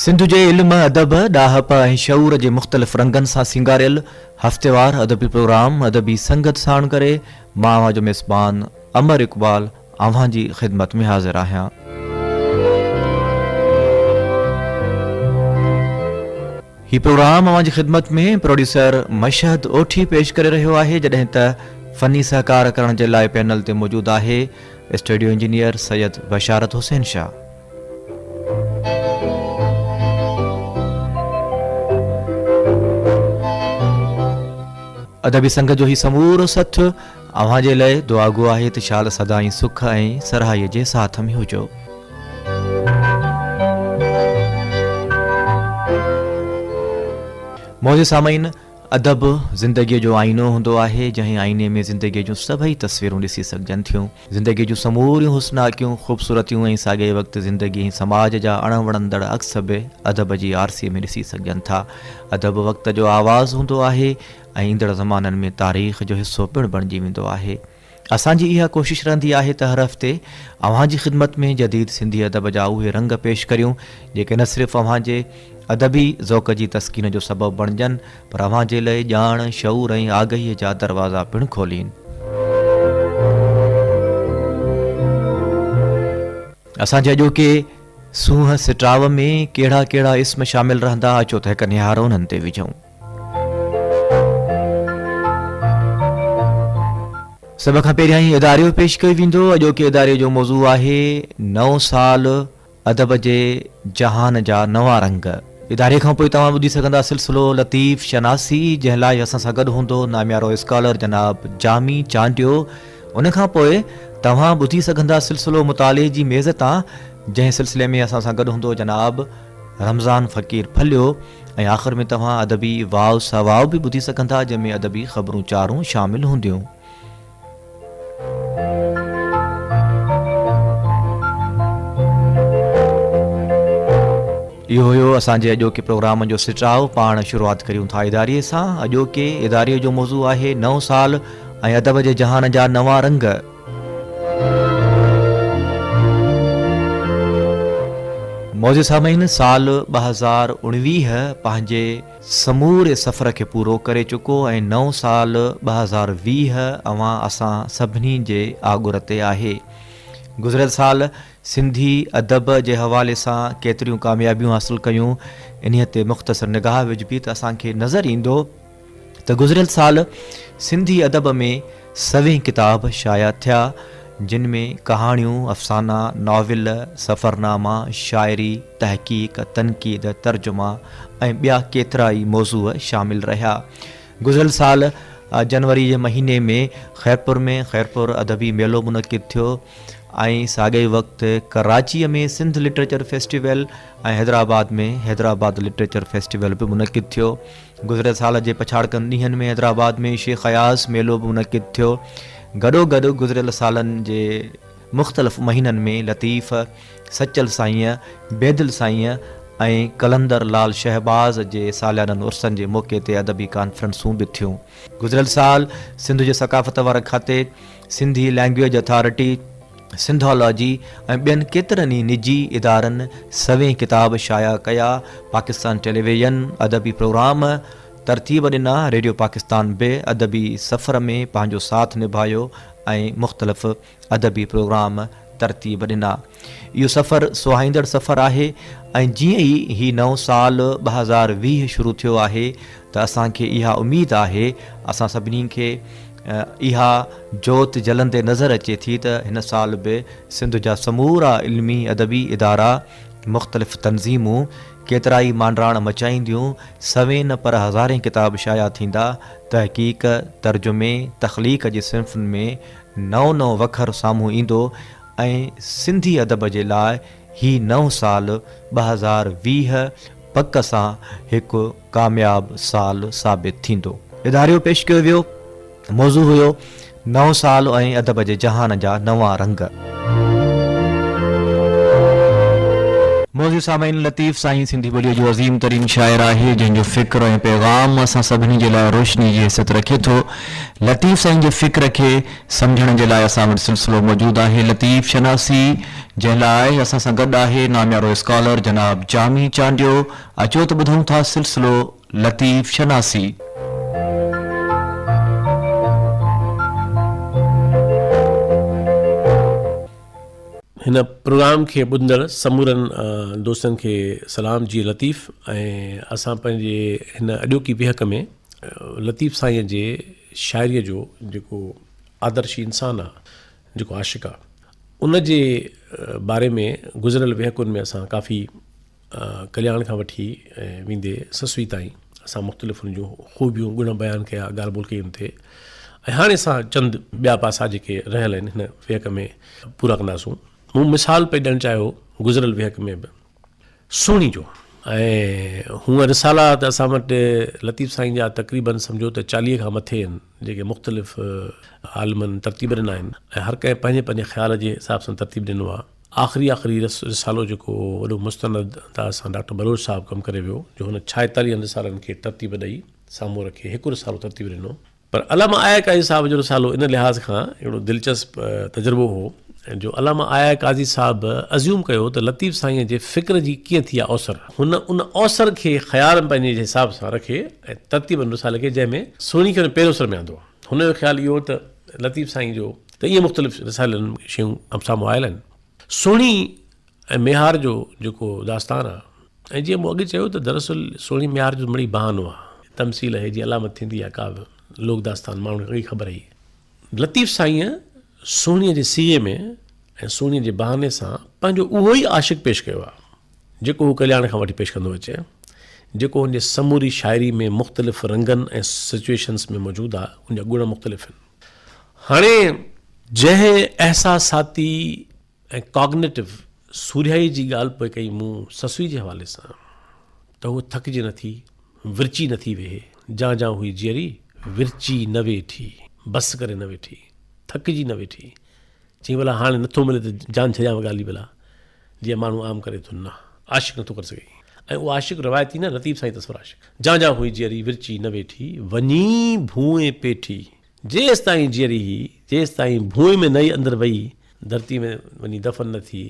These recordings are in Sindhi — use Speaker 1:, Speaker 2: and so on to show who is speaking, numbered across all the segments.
Speaker 1: سنڌ جي علم، ادب، ڏاهپ ۽ شعور جي مختلف رنگن سان سينگاريل هفتيوار ادبي پروگرام ادبي سنگت ساڻ ڪري مان اوهان جو ميزبان امر اقبال اوهان جي خدمت ۾ حاضر آهيان. هي پروگرام اوهان جي خدمت ۾ پروڊيوسر مشهد اوٺي پيش ڪري رهيو آهي جڏهن ته فني سهڪار ڪرڻ جي لاء پينل تي موجود آهي اسٽيڊيو انجنيئر سيد بشارت حسين شاهه. ادبي سنگت جو هي سمورو سٿ اوهان جي لئه دعاگو آهي ته شال سدائين سک ۽ سرهائي جي ساٿ ۾ هجو. معزز سامعين! ادب زندگيء جو آئينو هوندو آهي، جنهن آئيني ۾ زندگيء جون سڀئي تصويرون ڏسي سگهجن ٿيون. زندگيء جون سموريون حسناڪيون، خوبصورتيون ۽ ساڳئي وقت زندگي ۽ سماج جا اڻ وڻندڙ عڪس به ادب جي آرسي ۾ ڏسي سگهجن ٿا. ادب وقت جو آواز هوندو آهي. ۽ ايندڙ زمانن ۾ تاريخ جو حصو پڻ بڻجي ويندو آهي. اسان جي اها ڪوشش رهندي آهي ته هر هفتي اوهان جي خدمت ۾ جديد سنڌي ادب جا اهي رنگ پيش ڪريون جيڪي نه صرف اوهان جي ادبي ذوق جي تسڪين جو سبب بڻجن پر اوهان جي لئه ڄاڻ، شعور ۽ آگهيء جا دروازا پڻ کولين. اسان جي اڄوڪي سونهن سٽاء ۾ ڪهڙا ڪهڙا اسم شامل رهندا اچو ته هڪ نهار انهن تي وجهون. سڀ کان پهريان هي اداريو پيش ڪيو ويندو. اڄوڪي اداري جو موضوع آهي نئون سال ادب جي جهان جا نوان رنگ. اداري کان پوء توهان ٻڌي سگهندا سلسلو لطيف شناسي جنهن لاء اسان سان گڏ هوندو ناميارو اسڪالر جناب جامي چانڊيو. ان کان پوء توهان ٻڌي سگهندا سلسلو مطالعي جي ميز تان جنهن سلسلي ۾ اسان سان گڏ هوندو جناب رمضان فقير ڦليو ۽ آخر ۾ توهان ادبي واء سا واء به ٻڌي سگهن ٿا جنهن ۾ ادبي خبرون چارون شامل هونديون. اهو هيو اسان جي اڄوڪي پروگرام جو سٽاء پاڻ شروعات ڪريون ٿا اداري سان اڄوڪي اداري جو موضوع آهي نئون سال ۽ ادب جي جهان جا نوان رنگ. معزز سامعين سال ٻه هزار اڻويهه پنهنجي سموري سفر کي پورو ڪري چڪو ۽ نئون سال ٻه هزار ويهه اوهان اسان سڀني جي آڳر تي آهي. گذريل سال سنڌي ادب جي حوالي سان ڪيتريون ڪاميابيون حاصل ڪيون انهي تي مختصر نگاهه وجهبي ته اسان کي نظر ايندو ته گذريل سال سنڌي ادب ۾ سوين ڪتاب شايع ٿيا، جن ۾ ڪهاڻيون، افسانا، ناول، سفرناما، شاعري، تحقيق، تنقيد، ترجما ۽ ٻيا ڪيترا ئي موضوع شامل رهيا. گذريل سال جنوري جي مهيني ۾ خيرپور ۾ خيرپور ادبي ميلو منعقد ٿيو ۽ ساڳئي وقت Karachi ۾ Sindh literature festival ۽ Hyderabad ۾ Hyderabad literature festival به منعقد ٿيو. گذريل سال جي پڇاڙڪن ڏينهن ۾ حيدرآباد ۾ شيخ اياز ميلو به منعقد ٿيو. گڏو گڏ گذريل سالن جي مختلف مهينن ۾ لطيف، سچل سائينء، بيدل سائينء ۽ قلندر لال شهباز جي ساليانن عرسن جي موقعي تي ادبي ڪانفرنسون به ٿيون. گذريل سال سنڌ جي ثقافت واري کاتي، سنڌي لئنگويج اٿارٽي، سنڌالاجي ۽ ٻين ڪيترن ئي نجي ادارن سوين ڪتاب شايع ڪيا، پاڪستان ٽيليويزن ادبي پروگرام ترتيب ڏنا، ريڊيو پاڪستان به ادبي سفر ۾ پنهنجو ساٿ نڀايو ۽ مختلف ادبي پروگرام ترتيب ڏنا. اهو سفر سهائيندڙ سفر آهي ۽ جيئن ئي هي نئون سال ٻه هزار ويهه شروع ٿيو آهي ته اسان کي اها اميد آهي، اسان سڀني کي اها جوت جلندي نظر اچي ٿي ته هن سال به سنڌ جا سمورا علمي ادبي ادارا، مختلف تنظيمون، ڪيترائي مانڊراڻ مچائينديون، سوين نه پر هزارين ڪتاب شايع ٿيندا، تحقيق، ترجمي، تخليق جي صنفن ۾ نئون نئون وکر سامهون ايندو ۽ سنڌي ادب جي لاء هي نئون سال ٻه هزار ويهه پڪ سان هڪ ڪامياب سال ثابت ٿيندو. اداريو پيش ڪيو ويو. موضوع هيو نئون سال ۽ ادب جي جهان جا نوان رنگ. معزز سامعين لطيف سائين سنڌي ٻوليء جو عظيم ترين شاعر آهي جنهن جو فڪر ۽ پيغام اسان سڀني جي لاء روشني جي حيثيت رکي ٿو. لطيف سائين جي فڪر کي سمجهڻ جي لاء اسان وٽ سلسلو موجود آهي لطيف شناسي جنهن لاء اسان سان گڏ آهي ناميارو اسڪالر جناب جامي چانڊيو. اچو ته ٻڌون ٿا سلسلو لطيف شناسي.
Speaker 2: هن پروگرام کي ٻڌندڙ سمورن دوستن کي سلام جي لطيف ۽ اسان پنهنجي هن اڄوڪي ويهڪ ۾ لطيف سائين جي شاعري جو جيڪو آدرشي انسان آ جيڪو عاشق آ ان جي باري ۾ گذريل ويهڪن ۾ اسان ڪافي ڪلياڻ کان وٺي ويندي سسوي تائين اسان مختلف ان جون خوبيون گڻ بيان ڪيا ڳالهه ٻولهه ڪئي ان تي ۽ هاڻي اسان چند ٻيا پاسا جيڪي رهيل آهن هن ويهڪ ۾ پورا ڪنداسون مون مثال پئي ڏيڻ چاهيو گذريل ويهڪ ۾ به سهڻي جو ۽ هونء رسالا ته اسان وٽ لطيف سائين جا تقريباً سمجھو ته چاليهه کان مٿي آهن جيڪي مختلف عالمن ترتيب ڏنا آهن ۽ هر ڪنهن پنهنجي پنهنجي خيال جي حساب سان ترتيب ڏنو آهي آخري آخري رسالو جيڪو وڏو مستند تان اسان ڊاڪٽر بلوچ صاحب ڪم ڪري ويو جو هن ڇائيتاليهن رسالن کي ترتيب ڏئي سامهون رکي هڪ رسالو ترتيب ڏنو پر علامه آيا قاضي صاحب جو رسالو ان لحاظ کان اهڙو دلچسپ تجربو هو جو علامه آيا قاضي صاحب ازيوم ڪيو ته لطيف سائينء جي فڪر جي ڪيئن ٿي آ اوسر هن ان اوسر کي خيال ۾ پنهنجي حساب سان رکي ۽ ترتيب ان رسالي کي جنهن ۾ سهڻي کي ان پهريون سر ۾ آندو هن جو خيال اهو هو ته لطيف سائين جو ته ائين مختلف رسالن ۾ شيون سامهون آيل آهن. سهڻي ۽ ميهار جو جيڪو داستان آهي ۽ جيئن مون اڳ چيو ته دراصل سهڻي ميهار جو مڙئي بهانو آهي. تمثيل آهي جي علامت ٿيندي آهي ڪا به لوڪ داستان ماڻهن کي اڳ ئي خبر آهي. لطيف سائينء سهڻيء جي صيغي ۾ ۽ سهڻيء جي بهاني سان پنهنجو اهو ئي عاشق پيش ڪيو آهي جيڪو هو ڪلياڻ کان وٺي پيش ڪندو اچي جيڪو هن جي سموري شاعري ۾ مختلف رنگن ۽ سچوئيشنس ۾ موجود آهي ان جا گڻ مختلف آهن. هاڻي جنهن احساساتي ۽ ڪاگنيٽو سورهيائي جي ڳالهه پئي ڪئي مون سسئي جي حوالي سان ته هوء ٿڪجي نه ٿي، ورچي نه ٿي ويهي، جان جان هئي جيئري، ورچي نه ويٺي، بس ڪري نه ويٺي، ٿڪجي نه ويٺي، چيائين ڀلا هاڻي نٿو ملي ته جان ڇڏيان ڳالهه ئي ڀلا. جيئن ماڻهو عام ڪري ٿو نه عاشق نٿو ڪري سگهي ۽ اهو عاشق روايتي نه لطيف سائين تصور عاشق جان جان هئي جيئري ورچي نه ويٺي وڃي ڀونء پيٺي جيستائين جيئري هئي جيستائين ڀونء ۾ نئي اندر وئي ڌرتي ۾ وڃي دفن نه ٿي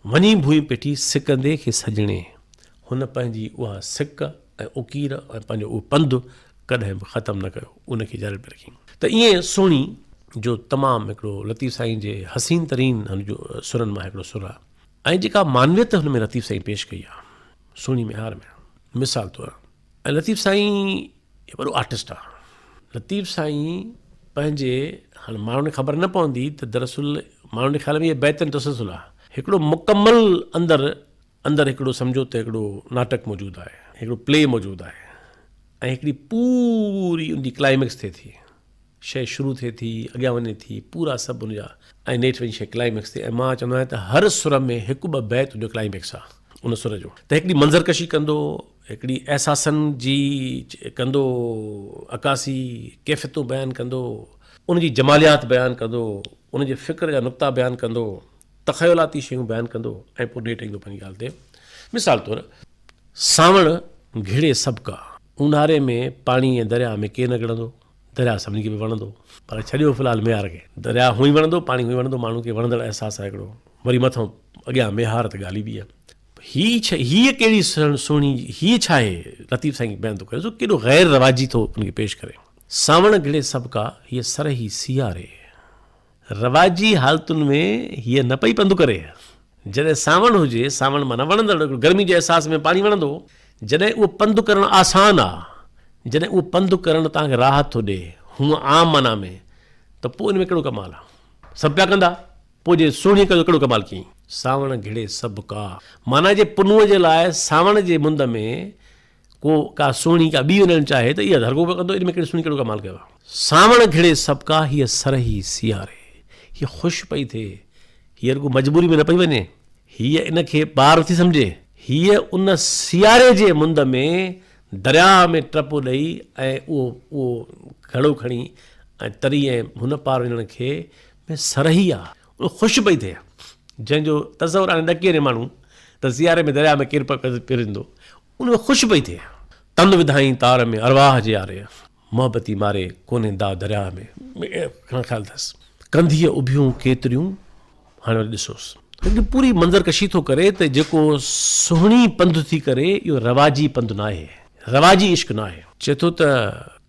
Speaker 2: وڃي ڀونء پيٺي سڪندي کي سڄڻي هن پنهنجي اها سڪ ۽ اوڪير ۽ پنهنجو اهو پنڌ ڪڏهن به ختم نه ڪيو ان کي جاري پي رکين ته ائين سهڻي جو تمام هڪڙو لطيف سائين جي حسين ترين سرن مان هڪڙو سر آهي ۽ جيڪا معنويت هن ۾ لطيف سائين پيش ڪئي آهي سهڻي ميهار ۾ مثال طور ۽ لطيف سائين وڏو آرٽسٽ آهي لطيف سائين پنهنجي هاڻي ماڻهن خبر نه پوندي ته دراصل ماڻهن جي خيال ۾ بيتن تسلسل آهي هڪڙو مڪمل اندر اندر هڪڙو سمجهو ته هڪڙو ناٽڪ موجود آهي، هڪڙو پلي موجود آهي ۽ هڪڙي پوري ان جي ڪلائميڪس ٿئي ٿي. شيء شروع ٿئي ٿي، اڳيان وڃي ٿي، پورا سڀ ان جا ۽ نيٺ وڃي شيء ڪلائميڪس تي ۽ مان چوندو آهيان ته هر سر ۾ هڪ ٻه بيت ان جو ڪلائميڪس آهي ان سر جو ته هڪڙي منظر ڪشي ڪندو، هڪڙي احساسن جي ڪندو عڪاسي، ڪيفيتون بيان ڪندو، ان جي جماليات بيان ڪندو، ان جي فڪر جا نقطا بيان ڪندو. تخيلاتي شيون بيان ڪندو ۽ پوء نيٺ ايندو پنهنجي ڳالهه تي. مثال طور، سانوڻ گهڙي سڀ ڪا، اونهاري ۾ پاڻي ۽ درياء ۾ ڪير نه ڳڙندو، درياء سڀني کي پئي وڻندو، پر ڇڏيو في الحال ميهار کي، درياء هونئن وڻندو، پاڻي هونئن وڻندو، ماڻهن کي وڻندڙ احساس آهي هڪڙو، وري مٿئون اڳيان ميهار ته ڳالهه ئي ٻي آهي. هي ڇا، هيء ڪهڙي سهڻي، هيء ڇا آهي، لطيف سائين بيان ٿو ڪري سو ڪيڏو غير رواجي ٿو ان کي پيش ڪري. سانوڻ گهڙي سڀ ڪا، هيء سرهي سياري. رواجي حالتن ۾ هيء نه پئي پنڌ ڪري. جڏهن سانوڻ هجي، سانوڻ معنيٰ وڻندڙ، گرمي جي احساس ۾ پاڻي وڻندو هو. جڏهن اهو پنڌ ڪرڻ آسان آ، جڏهن اهو پنڌ ڪرڻ توهان کي راحت ٿو ڏئي، هونء عام معنيٰ ۾، ته پوء ان ۾ ڪهڙو ڪمال آ؟ سڀ پيا ڪندا، پوء جي سهڻيء ڪيو ته ڪهڙو ڪمال ڪيئين؟ سانوڻ گهڙي سڀ ڪا. معنيٰ جي پنهونء جي لاء سانوڻ جي مند ۾ ڪو ڪا سهڻي ڪا ٻي وڃڻ چاهي ته اها ڌرڳو به ڪندو، ان ۾ ڪهڙي سهڻي ڪهڙو ڪمال ڪيو آهي. سانوڻ گهڙي سڀڪا هيء سرهي سياري. هيء خوش پئي ٿئي، هيء رڳو مجبوري ۾ نه پئي وڃي، هيء ان کي ٻار نٿي سمجهي، هيء ان سياري جي مند ۾ درياء ۾ ٽپو ڏئي ۽ اهو اهو گهڙو کڻي ۽ تري ۽ هن پار وڃڻ کي ۾ سرهي آ. خوش پئي ٿئي، جنهن جو تصور آڻي ڏڪي وڃي ماڻهو ته سياري ۾ درياء ۾ ڪير پرندو ان ۾ خوش پئي ٿئي. تند وڌائين تار ۾ ارواح جي آري، محبتي ماري ڪونهي داء درياء ۾. گهڻا خيال اٿس. ڪنڌيء اڀيون ڪيتريون هاڻي وري ڏسوس. هڪ پوري منظر ڪشي ٿو ڪري ته جيڪو سهڻي پنڌ ٿي ڪري اهو رواجي پنڌ ناهي، رواجي عشق ناهي. چئي ٿو ته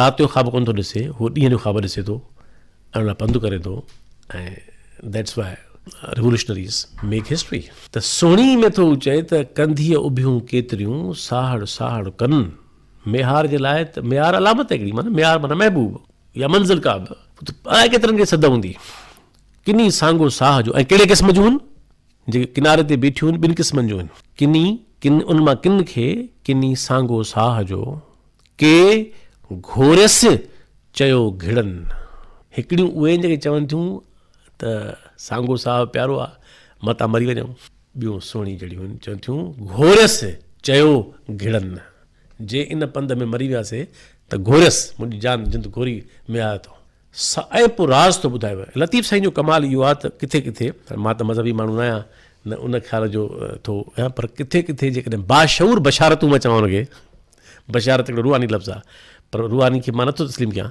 Speaker 2: رات جو خواب ڪونه ٿو ڏسي هو ڏينهن جو خواب ڏسي ٿو ۽ ان لاء پنڌ ڪري ٿو ۽ That's why Revolutionaries make history. ته سهڻي ۾ ٿو چئي ته ڪنڌيء اڀيون ڪيتريون ساهڙ ساهڙ ڪن ميهار جي لاء ته ميهار علامت هڪڙي معنيٰ ميهار معنيٰ محبوب يا منزل ڪا به الاء ڪيترن کي سڌ هوندي ڪني سانگو ساهه جو ۽ ڪهڙي قسم جون هن جيڪي ڪناري تي بيٺيون هن ٻن قسمن جون هن ڪني ڪن ان مان ڪن کي ڪني سانگو ساهه جو ڪي گهوريس چيو گهڙن. هڪڙيون اهي جيڪي چون ٿيون ته سانگو صاحب پيارو آ متان مري وڃون. ٻيون سهڻي جهڙيون چون ٿيون گهوريس چيو گهڙن. جي ان پنڌ ۾ مري وياسي ته گهوريس منهنجي جان جند گهوري ۾ آيو ٿو. صائب راز ٿو ٻڌايو. لطيف سائين جو ڪمال اهو آ ته ڪٿي ڪٿي مان ته مذهبي ماڻهو ناهيان نه ان خيال جو ٿو هيان پر ڪٿي ڪٿي جيڪڏهن باشعور بشارتون مان چوان لڳي بشارت هڪڙو روحاني لفظ آ پر روحاني کي مان نٿو تسليم ڪيان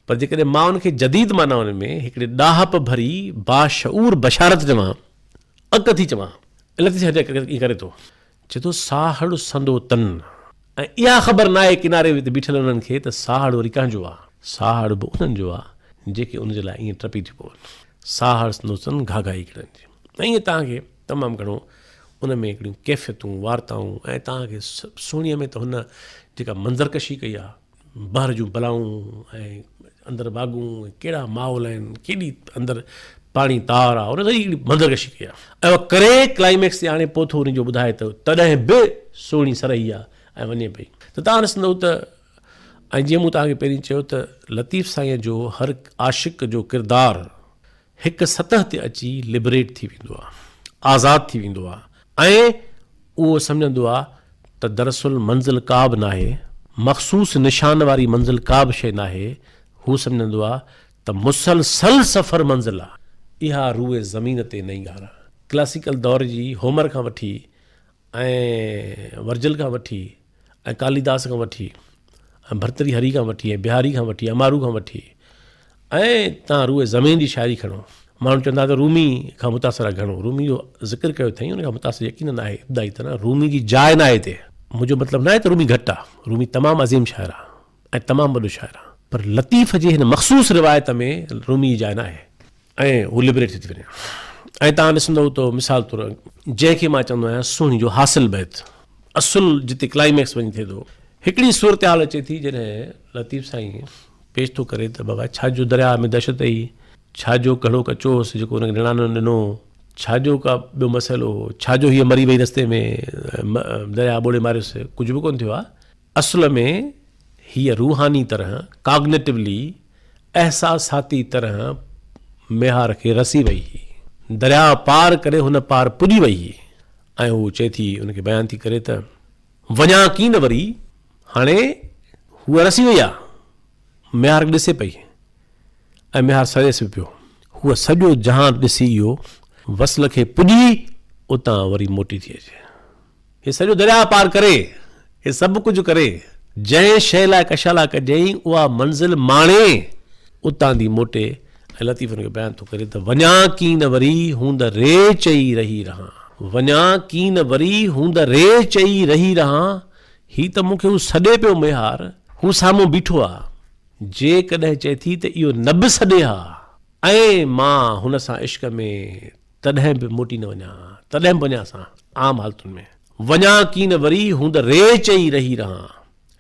Speaker 2: پر جيڪڏهن مان ان کي جديد معنائن ۾ هڪڙي ڏاهپ ڀري باشعور بشارت چوان اک ٿي چوان اليڪس جي هرجاء ائين ڪري ٿو چئي ٿو ساهڙ سندو تن ۽ اها خبر ناهي ڪناري تي بيٺل انهن کي ته ساهڙ وري ڪنهن جو آ ساهڙ به انهن جو آ جيڪي ان جي لاء ائين ٽپي ٿيون پون ساهڙ سندو تن گهاگهائي ڪرن ٿيون ائين توهان کي تمام گهڻو ان ۾ هڪڙيون ڪيفيتون، وارتائون ۽ توهان کي سهڻيء ۾ ته هن جيڪا منظر ڪشي ڪئي آهي، بحر جون بلائون ۽ اندر واڳون ۽ ڪهڙا ماحول آهن، ڪيڏي اندر پاڻي تار آهي، ان سڄي هڪڙي منظر ڪشي ڪئي آهي. اهو ڪري ڪلائيميڪس تي آڻي پوٿو ان جو ٻڌائي ته تڏهن به سهڻي سرهي آهي ۽ وڃي پئي ته توهان ڏسندؤ ته ۽ جيئن مون توهان کي پهرين چيو ته لطيف سائينء جو هر عاشق جو ڪردار هڪ سطح تي اچي لبريٽ ٿي ويندو آ، آزاد ٿي ويندو آ ۽ اهو سمجهندو آ ته دراصل منزل ڪا به ناهي، مخصوص نشان واري منزل ڪا به شيء ناهي، هو سمجهندو آ ته مسلسل سفر منزل آ. اها روئي زمين تي نئين ڳالهه آ. ڪلاسيڪل دور جي هومر کان وٺي ۽ ورجل کان وٺي ۽ ڪاليداس کان وٺي ۽ ڀرتري هري کان وٺي ۽ بهاري کان وٺي امارو کان وٺي ۽ تان روئي زمين جي شاعري کڻو ماڻهو چوندا ته رومي کان متاثر آهي گهڻو رومي جو ذڪر ڪيو اٿئي ان کان متاثر يقينن آهي ابتدائي طرح رومي جي جاء ناهي هتي منهنجو مطلب ناهي ته رومي گهٽ آهي رومي تمام عظيم شاعر آهي ۽ تمام وڏو شاعر آهان. پر لطيف جي هن مخصوص روايت ۾ رومي جي جاء ناهي. ۽ هو لبريٽ ٿي ٿي وڃي. ۽ توهان ڏسندؤ ته مثال طور جنهن کي مان چوندو آهيان سهڻي جو حاصل بيت اصل جتي ڪلائيميڪس وڃي ٿئي ٿو. هڪڙي صورتحال اچي ٿي جڏهن لطيف سائين پيش ٿو ڪري ته بابا ڇا جو درياهه ۾ دهشت هئي، ڇا جو گهڙو ڪچو هوس جيڪو ان کي نڻان نه ڏنو، ڇا جو ڪا ٻيو مسئلو هو، ڇا جو هيء مري وئي رستي ۾ درياهه ٻوڙي ماريس، ڪجهه به ڪونه ٿيو آهي. اصل ۾ هيء روحاني طرح، Cognitively، احساساتي طرح ميهار کي رسي وئي هئي. درياء پار ڪري هن پار پڄي وئي هئي ۽ هوء چئي ٿي، ان کي بيان ٿي ڪري ته. وڃان ڪين نه وري. هاڻي هوء رسي وئي آ. ميهار کي ڏسي پئي ۽ ميهار سڙيس به پيو. هوء سڄو جهان ڏسي اهو وصل کي پڄي اتان وري موٽي ٿي اچي. هي سڄو درياهه پار ڪري، هي سڀ ڪجهه ڪري، جنهن شيء لاء ڪشالا ڪجئين، اها منزل ماڻي، اتان ٿي موٽي ۽ لطيف ان کي بيان ٿو ڪري ته، وڃان ڪين وري هوند ري چئي رهي رهان، وڃان ڪين وري هوند ري چئي رهي رهان، هي ته مون کي هو سڏي پيو ميهار، هو سامهون بيٺو آ، جيڪڏهن چئي ٿي ته اهو نه به سڏي ها ۽ مان هن سان عشق ۾ تڏهن به موٽي نه وڃان ها، تڏهن به وڃان سان عام حالتن ۾. وڃان ڪين وري، هوند ريچ ئي رهي رهان.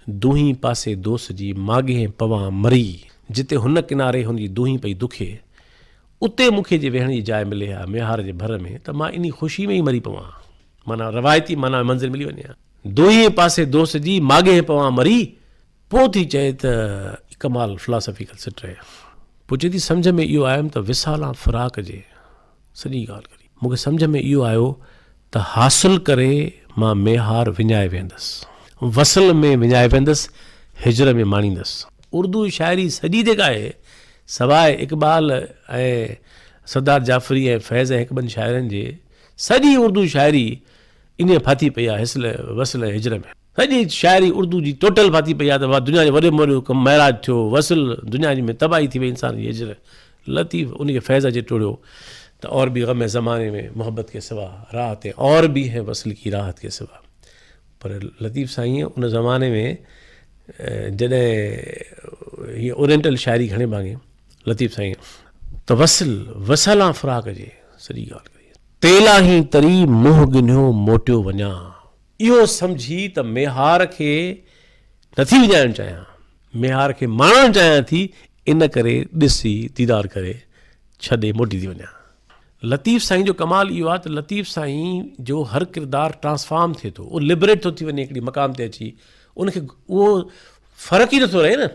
Speaker 2: دونهين پاسي دوس جي ماڳهين پوان مري. جتي هن ڪناري هن جي دونهين پئي دکي، اتي مون کي جي ويهڻ جي جاء ملي ها ميهار جي ڀر ۾ ته مان انهي خوشي ۾ ئي مري پوان. معنيٰ روايتي معنيٰ ۾ منزل ملي وڃي ها. دونهين پاسي دوس جي ماڳهين پوان مري. پوء ٿي چئي ته ڪمال فلاسافيڪل سٽ رهي. پوء چئي ٿي سمجهه ۾ اهو آيم ته وصال آن فراق جي سڄي ڳالهه ڪري. مون کي سمجهه ۾ اهو آيو ته حاصل ڪري مان ميهار وڃائي ويهندس. وصل ۾ وڃائي ويهندس، هجر ۾ ماڻيندس. اردو شاعري سڄي جيڪا آهي، سواء اقبال ۽ سردار جعفري ۽ فيض ۽ هڪ ٻن شاعرن جي، سڄي اردو شاعري انهيء ڦاٿي پئي آهي، حصل، وصل ۽ هجر ۾. سڄي شاعري اردو جي ٽوٽل ڦاٿي پئي آ ته دنيا جي وڏي ۾ وڏو ڪم معراج ٿيو وصل دنيا جي ۾ تباهي ٿي وئي انسان جي هجر لطيف انهي کي فيض اچي ٽڙيو ته اور ڀي غم هي زماني ۾ محبت ڪي سوا راحت هي اور ڀي هي وصل ڪي راحت ڪي سوا پر لطيف سائين ان زماني ۾ جڏهن هي اورينٽل شاعري گهڻي ڀاڱي لطيف سائين ته وصل وصالا فراق جي سڄي ڳالهه تيلاهين تري منهن گنهيو موٽيو وڃان. اهو سمجهي ته ميهار کي نٿي وڃائڻ چاهيان، ميهار کي ماڻڻ چاهيان ٿي، ان ڪري ڏسي، ديدار ڪري، ڇڏي موٽي ٿي وڃان. لطيف سائين جو ڪمال اهو آهي ته لطيف سائين جو هر ڪردار ٽرانسفارم ٿئي ٿو، اهو لبريٽ ٿو ٿي وڃي هڪڙي مقام تي اچي، ان کي اهو فرق ئي نٿو رهي نه،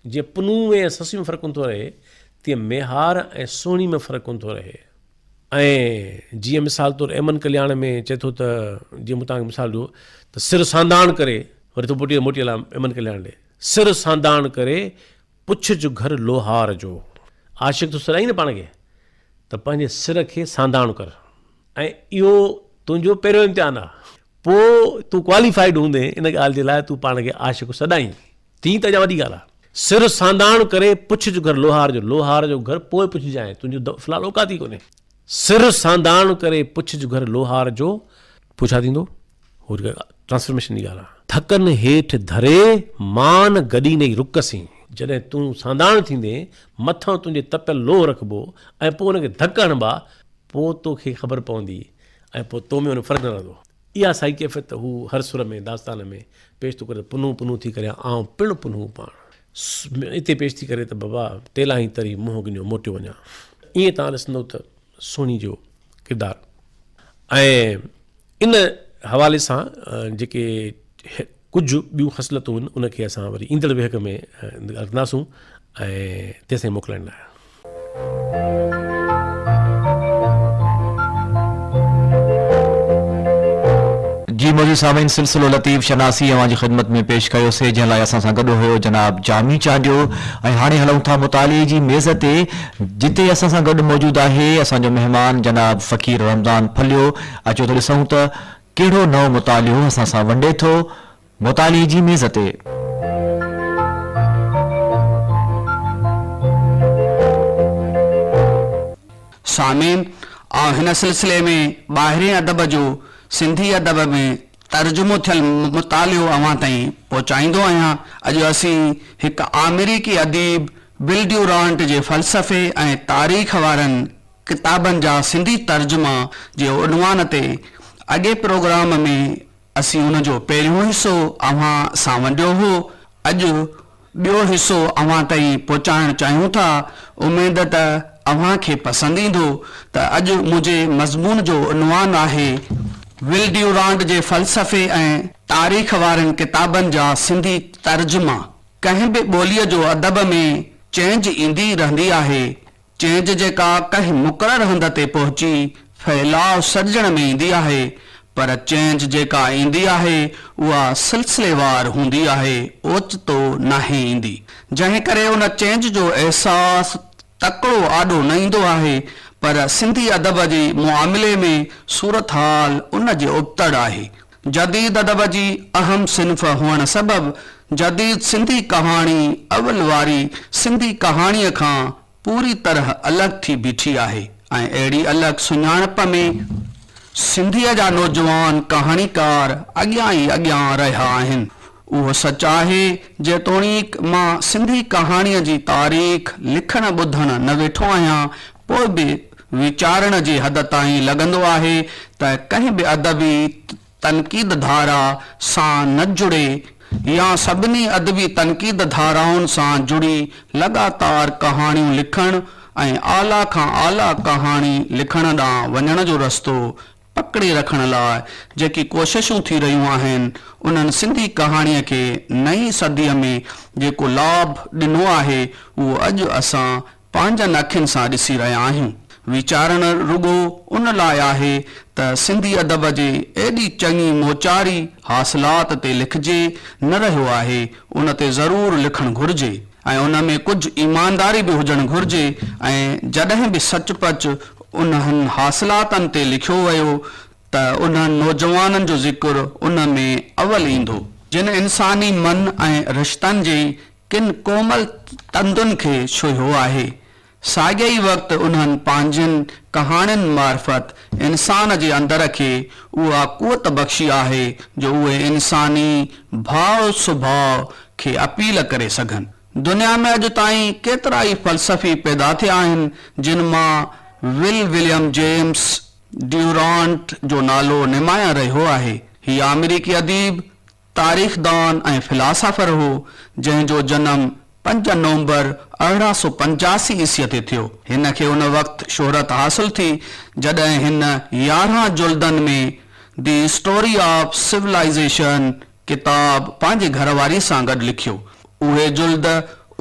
Speaker 2: جيئن پنهون ۾ ۽ سسئي ۾ فرق ڪونه ٿو رهي، تيئن ميهار ۽ سهڻي ۾ فرق ڪونه ٿو رهي. ۽ جيئن مثال طور ايمن ڪلياڻ ۾ چئي ٿو ته جيئن مون توهان کي مثال ڏنو ته سر سانداڻ ڪري وري ٿو موٽي موٽي الا ايمن ڪلياڻ ڏي سر سانداڻ ڪري پڇ جو گهر لوهار جو عاشق ٿو سڏائين نه پاڻ کي ته پنهنجي سر کي سانداڻ ڪر ۽ اهو تنهنجو پهريون امتحان آ پوء تون ڪواليفائيڊ هوندين ان ڳالهه جي لاء تون پاڻ کي عاشق سڏائين تيئن ته اڃا وڏي ڳالهه آهي. سر سانداڻ ڪري پڇ جو گهر لوهار جو، لوهار جو گهر پوء پڇجانء، تنهنجو دم في الحال اوقات ئي ڪونهي. سر سانداڻ ڪري پڇ جو گهر لوهار جو، پوء ڇا ٿيندو؟ هو جيڪا ٽرانسفارميشن جي ڳالهه آهي. ٿڪن هيٺ ڌري، مان گڏي نئي رڪ سين. جڏهن تون سانداڻ ٿيندين، مٿان تنهنجي تپيل لوهه رکبو ۽ پوء ان کي ڌڪ هڻبا، پوء تو کي خبر پوندي ۽ پوء تو ۾ ان ۾ فرق نه رهندو. اها سائي ڪيفيت هو هر سر ۾ داستان ۾ پيش ٿو ڪري ته پنهون پنهون ٿي ڪريان آئون پڻ پنهون پاڻ ۾ اتي پيش ٿي ڪري ته بابا ٽيلاهين تري منهن گنيو موٽيو وڃان ائين تان ڏسندو ته سهڻي جو ڪردار ۽ ان حوالي سان جيڪي ڪجهه ٻيون خصلتون هن ان کي اسان وري ايندڙ ويهڪ ۾ رکنداسون ۽ تيسين موڪلائڻ لاء.
Speaker 1: جي معزز سامعين سلسلو لطيف شناسي اوهان جي خدمت ۾ پيش ڪيو سي جنهن لاء اسان سان گڏ هيو جناب جامي چانڊيو ۽ هاڻي هلون ٿا مطالعي جي ميز تي جتي اسان سان گڏ موجود آهي اسان جو مهمان جناب فقير رمضان ڦليو اچو ته ڏسون ته ڪهڙو نئون مطالعو اسان سان ونڊي ٿو مطالعي جي ميز تي.
Speaker 3: سامعين! آئون هن سلسلي ۾ ٻاهرين ادب جو سنڌي ادب ۾ ترجمو ٿيل مطالعو اوهان تائين پهچائيندو آهيان. اڄ اسين هڪ آمريڪي اديب بل ڊيورانٽ جي فلسفي ۽ تاريخ وارن ڪتابن جا سنڌي ترجما جي عنوان تي اڳئين پروگرام ۾ اسين ان جو پهريون حصو اوهان سان ونڊيو هو. اڄ ٻيو حصو اوهان تائين پهچائڻ چاهيون ٿا. اميد ته اوهان کي پسند ايندو ته اڄ منهنجي مضمون جو عنوان آهي، ول ڊيورانڊ جي فلسفي ۽ تاريخ وارن ڪتابن جا سنڌي ترجما، ڪنهن به ٻوليء جو ادب ۾ چينج ايندي رهندي آهي، چينج جيڪا ڪنهن مقرر هنڌ تي پهچي ڦهلاء سڏجڻ ۾ ايندي آهي پر چينج جيڪا ايندي آهي اها سلسليوار هوندي آهي اوچتو ناهي ايندي جنهن ڪري ان چينج جو احساس تڪڙو آڏو نه ايندو آهي پر سنڌي ادب جي معاملي ۾ صورتحال ان جي ابتڙ آهي جديد ادب جي اهم صنف هئڻ سبب جديد سنڌي ڪهاڻي اول واري سنڌي ڪهاڻيء کان پوري طرح الڳ ٿي بيٺي آهي ۽ اهڙي الڳ سڃاڻپ ۾ سنڌيء جا نوجوان ڪهاڻيڪار اڳيان ئي اڳيان رهيا آهن. اهو سچ آهي جيتوڻيڪ مان سنڌي ڪهاڻيء جي تاريخ لکڻ ٻڌڻ نه ويٺو آهيان پوء به ويچارڻ جي حد تائين لڳندو آهي ته ڪنهن به ادبي تنقيد ڌارا سان نه جڙي يا سڀني ادبي تنقيد ڌارائن سان جڙي لڳاتار ڪهاڻيون لکڻ ۽ اعليٰ کان اعليٰ ڪهاڻي لکڻ ڏانهن وڃڻ جو رستو پڪڙي رکڻ لاء جيڪي ڪوششون ٿي رهيون آهن انهن سنڌي ڪهاڻيء کي نئين صديء ۾ جيڪو لاڀ ڏنو آهي اهو اڄ اسان پنهنجن اکين سان ڏسي رهيا آهيون. ويچارڻ رڳو ان لاء آهي ته سنڌي ادب جي ايڏي چڱي موچاري حاصلات تي لکجي نه رهيو آهي، ان تي ضرور لکڻ گهرجي ۽ ان ۾ ڪجهه ايمانداري به هجڻ گهرجي ۽ جڏهن به سچ پچ انهن حاصلاتن تي لکيو ويو ته انهن نوجوانن جو ذڪر ان ۾ اول ايندو، جن انساني من ۽ رشتن جي ڪن ڪومل تندن کي ڇهيو آهي. ساڳئي ئي وقت انهن پنهنجين ڪهاڻين معرفت انسان جي اندر کي اها قوت بخشي آهي جو اهي انساني ڀاء سڀاء کي اپيل ڪري سگهن. دنيا ۾ اڄ تائين ڪيترا ئي فلسفي پيدا ٿيا آهن جن مان ول وليم جيمس ڊيورانٽ جو نالو نمايان رهيو آهي. هي آمريڪي اديب، تاريخدان ۽ فلاسافر هو، جنهن جو جنم پنج نومبر ارڙهن سؤ پنجاسي عيسيء تي ٿيو. هن کي ان وقت شهرت حاصل ٿي، جڏهن هن يارهن جلدن ۾ دي اسٽوري آف سولائيزيشن ڪتاب پنهنجي گهر واري سان گڏ لکيو. اهي جلد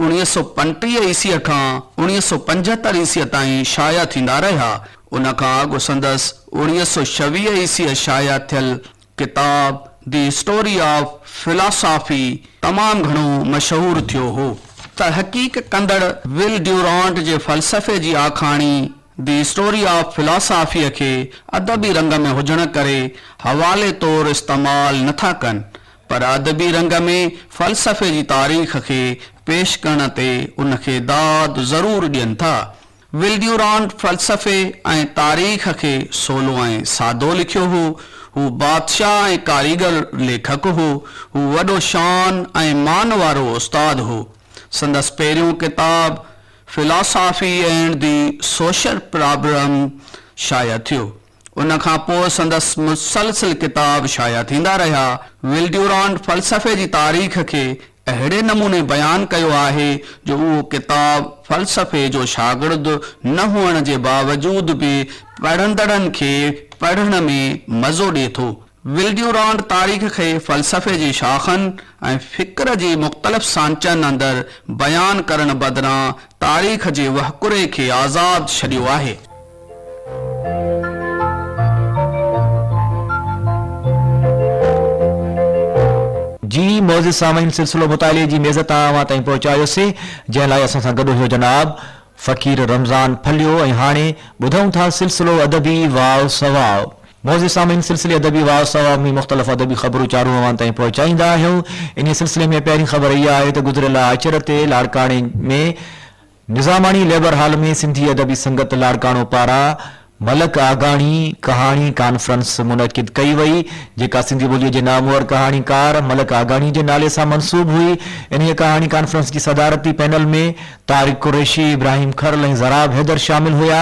Speaker 3: اوڻيهه سؤ پنٽيهه عيسيء کان اوڻيهه سؤ پنجهتر عيسيء تائين شايع ٿيندا رهيا. ان کان اڳ سندس اوڻيهه سؤ ڇويهه عيسيء شايع ٿيل ڪتاب دي اسٽوري آف فلاسافي تمام گهڻو مشهور ٿيو هو. تحقيق ڪندڙ ول ڊيورانٽ جي فلسفي جي آکاڻي دي اسٽوري آف فلاسافيء کي ادبي رنگ ۾ هجڻ ڪري حوالي طور استعمال نه ٿا ڪن، پر ادبي رنگ ۾ فلسفي جي تاريخ کي پيش ڪرڻ تي ان کي داد ضرور ڏين ٿا. ولڊيورانٽ فلسفي ۽ تاريخ کي سولو ۽ سادو لکيو هو. هو بادشاهه ۽ ڪاريگر ليکڪ هو. هو وڏو شان ۽ مان وارو استاد هو. سندس پهريون ڪتاب Philosophy and the Social Problem شايع ٿيو. ان کان پوء سندس مسلسل ڪتاب شايع ٿيندا رهيا. ول ڊيورانٽ فلسفي جي تاريخ کي اهڙي نموني بيان ڪيو آهي جو اهو ڪتاب فلسفي جو شاگرد نه هئڻ جي باوجود به پڙهندڙن کي پڙهڻ ۾ مزو ڏئي ٿو. ولڊيورانڊ تاريخ کي فلسفي جي شاخن ۽ فڪر جي مختلف سانچن اندر بيان ڪرڻ بدران تاريخ جي وهڪري کي آزاد ڇڏيو آهي.
Speaker 1: جي معزز سامعين سلسلو مطالعي جي ميز تان اوهان تائين پهچايوسي جنهن لاء اسان سان گڏ هيو جناب فقير رمضان ڦليو ۽ هاڻي ٻڌون ٿا سلسلو ادبي واء سواء. معزز سامعين سلسلي ادبي واء سواء ۾ مختلف ادبي خبرون چارون اوهان تائين پهچائيندا آهيون انهي سلسلي ۾ پهرين خبر اها آهي ته گذريل آچر تي لاڙڪاڻي ۾ نظاماڻي ليبر هال ۾ سنڌي ادبي سنگت لاڙڪاڻو پاران ملڪ آگاڻي ڪهاڻي ڪانفرنس منعقد ڪئي وئي، جيڪا سنڌي ٻوليء جي نامور ڪهاڻيڪار ملڪ آگاڻي جي نالي سان منسوب هئي. انهيء ڪهاڻي ڪانفرنس جي صدارتي پينل ۾ طارق قريشي، ابراهيم کرل ۽ زراب حيدر شامل هيا.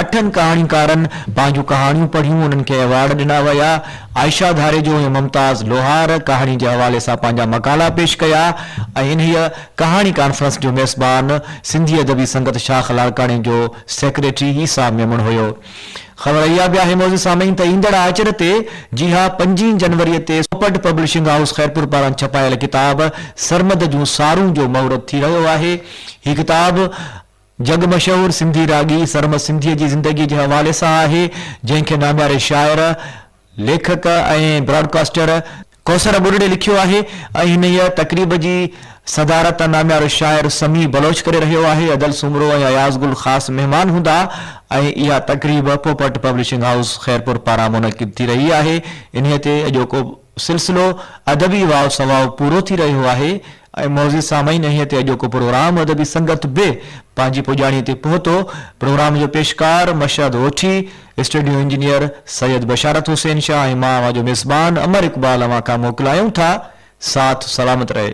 Speaker 1: اٺن ڪهاڻيڪارن پنهنجون ڪهاڻيون پڙهيون، انهن کي ايوارڊ ڏنا ويا. عائشه ڌاريجو ۽ ممتاز لوهار ڪهاڻي جي حوالي سان پنهنجا مقالا پيش ڪيا ۽ انهيء ڪهاڻي ڪانفرنس جو ميزبان سنڌي ادبي سنگت شاخ لاڙڪاڻي جو سيڪريٽري ئي صاحب ميمڻ هيو. خبر اها به آهي معزز سامعين ته ايندڙ آچر تي جي ها پنجين جنوري تي سوپٽ پبلشنگ هائوس خيرپور پاران ڇپايل ڪتاب سرمد جون سارون جو مهورت ٿي رهيو آهي. هي ڪتاب جڳ مشهور سنڌي راڳي سرمد سنڌيء جي زندگيء جي حوالي سان آهي، جنهن کي نامياري شاعر، ليکڪ ۽ براڊڪاسٽر ڪوثر ٻرڙي لکيو آهي ۽ هن ئي تقريب جي صدارت ناميارو شاعر سميع بلوچ ڪري رهيو آهي. ادل سومرو ۽ اياز گل خاص مهمان هوندا ۽ اها تقريب پوپٽ پبلشنگ هائوس خيرپور پاران منعقد ٿي رهي آهي. انهيء تي اڄوڪو سلسلو ادبي واء سواء پورو ٿي رهيو آهي. ۽ معزز سامعين اهي تي اڄوڪو پروگرام ادبي سنگت به پنهنجي پڄاڻي تي پهتو پروگرام جو پيشڪار مشهد اوٺي اسٽوڊيو انجنيئر سيد بشارت حسين شاهه ۽ مان اوهان جو ميزبان امر اقبال اوهان کان موڪلايون ٿا ساٿ سلامت رهي.